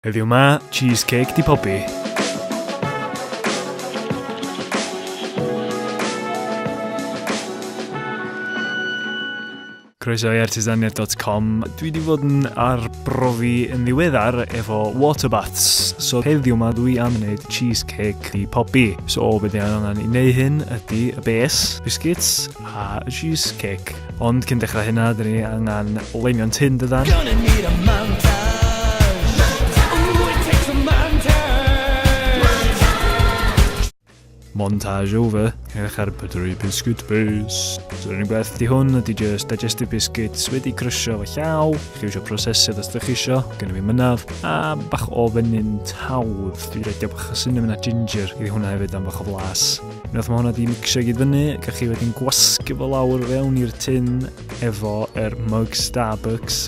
Heddiw 'ma, cheese cake 'di pobi. Croeso i artisaniaeth.com. Dwi wedi fod yn arbrofi yn ddiweddar efo water baths. So heddiw yma dwi am wneud cheesecake i pobi. So o beth i angen i wneud hyn ydy y bes, biscuits, A cheese cake. Ond cyn dechrau hynna, dyn ni angen leinio'n tin dydan? Gonna need a montage. montage over. Edrych ar pydru biscuit base. So rhywun beth di hwn ydy just digestive biscuits wedi crysio fy llaw. Chi eisiau prosesydd os ydych chi eisiau, gen i fi mynaf. A bach o fynyn tawdd. Dwi'n rhaid bach o cinnamon a ginger. Ydy hwnna hefyd am bach o flas. Unwaith mae hwnna di mixio gyd fyny, gach chi wedyn gwasgu fo lawr fewn i'r tin efo er mug Starbucks,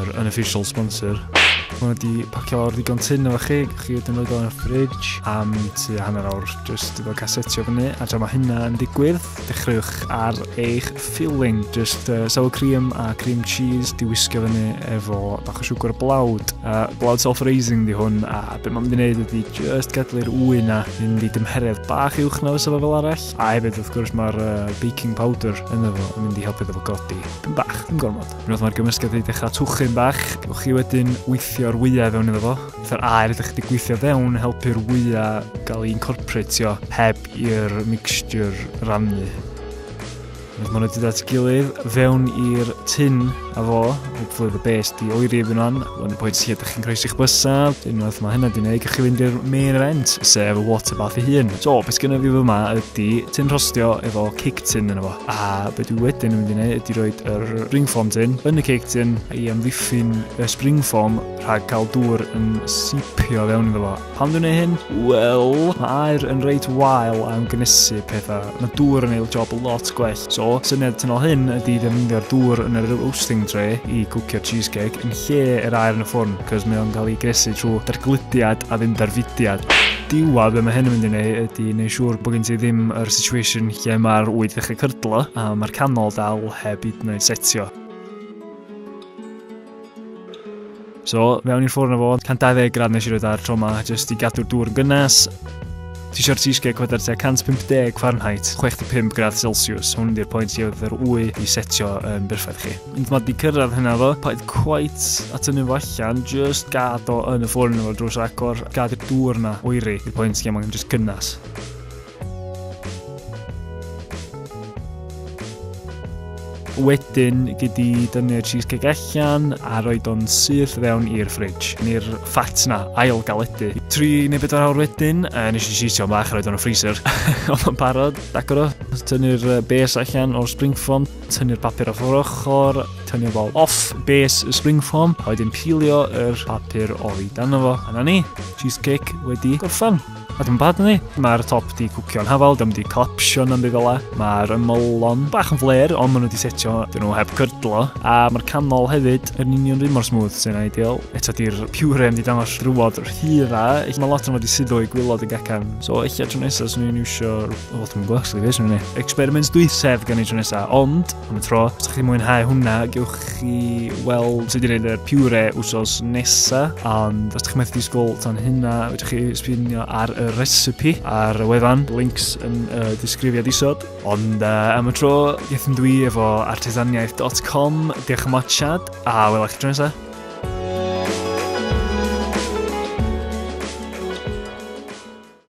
yr unofficial sponsor. Mae hwnna di pacio lawr ddigon tin efo chi, gach chi wedyn rhoi o'n fridge am tu hanner awr, jyst efo casetio fyny, a tra mae hynna yn digwydd, Dechreuwch ar eich filling, just uh, sour cream a cream cheese, di wisgo fyny efo bach o siwgr blawd. Uh, blawd self-raising di hwn, a beth mae'n mynd i wneud ydy just gadlu'r wy na fynd i dymheredd bach uwch na fysa fel arall. A hefyd, wrth gwrs, mae'r uh, baking powder yn efo yn mynd i helpu efo godi. Dim bach, dim gormod. Unwaith mae'r gymysgedd wedi dechrau twchyn bach, gewch chi wedyn weithio'r wyau fewn iddo fo. Fytha'r air ydych chi wedi gweithio fewn helpu'r wyau gael ei incorporatio heb i'r mixture rannu. Mae hwnna wedi dat gilydd fewn i'r tin a fo, hopefully the best i oeri efo'n o'n, o'n y pwynt lle ydych chi'n croes i'ch bysaf, unwaith mae hynna di wneud, gallwch chi fynd i'r main event, sef y water bath ei hun. So, beth gen i fi fyma ydy tin rhostio efo cake tin yna fo. A beth dwi wedyn yn mynd i wneud ydy roed yr spring foam tin yn y cake tin i amddiffyn y spring foam rhag cael dŵr yn sipio fewn iddo fo. Pam dwi'n ei hyn? Wel, mae air yn reit wael am gynysu pethau. Mae dŵr yn ei job lot gwell. So, syniad tynol hyn ydy ddefnyddio'r dŵr yn yr roasting tray i gwcio cheesecake yn lle yr air yn y ffwrn, cos mae o'n cael ei gresu trwy dargludiad a ddim darfudiad diwedd be mae hyn yn mynd i wneud ydy wneud siŵr bod gen ti ddim yr situation lle mae'r wyd ddechrau cydlo a mae'r canol dal heb hyd yn oed setio. So, mewn i'r ffwrn o fod, 120 gradd nes i roed ar tro ma, jyst i gadw'r dŵr yn gynnes. Ti sio'r cheesecake wedar tua 150 Fahrenheit, 65 gradd Celsius. Hwn di'r pwynt i oedd yr wy i setio yn berffaith chi. Ond mae di cyrraedd hynna fo, paid cwait at ynnu fo allan, just gad o yn y ffwrn o'r drws agor, gad y dŵr na oeri i'r pwynt lle mae'n just gynnas. Wedyn gyd i dynnu'r cheesecake allan a roed o'n syth fewn i'r fridge, neu'r ffat na, ail galedu. Tri neu bedwar awr wedyn, uh, nes i sisio bach a roed o'n y freezer. Ond o'n parod, agor o, tynnu'r bes allan o'r spring foam, tynnu'r papur off o'r ochr, tynnu'r bol off bes y spring foam, a wedyn pilio yr papur o'i dan fo. A na ni, cheesecake wedi gorffan. Ac yn bad ni, mae'r top di cwcio'n hafal, dym di collapsio yn byd ola. Mae'r ymylon bach yn fler, ond maen nhw di setio, dyn nhw heb cydlo. A mae'r canol hefyd yn union rhywun mor smooth sy'n ideal. Eto di'r pure yn di dangos rhywod rhyra, mae lot yn fod i suddo i gwylod yn gacan. So eich tro nesaf, swn i'n iwsio, o, dwi'n gwybod, swn i'n gwybod, swn i'n experiments dwythsef gan ei tro nesaf, ond am y tro. Os ydych chi'n mwynhau hwnna, gewch chi weld sut i wneud y piwre wsos nesa. Ond os ydych chi'n methu disgwyl tan hynna, ydych chi sbinio ar y recipe ar y wefan, links yn y uh, disgrifiad isod. Ond uh, am y tro, gethyn dwi efo artesaniaeth.com, diolch am watchad, a wel eich tro nesaf.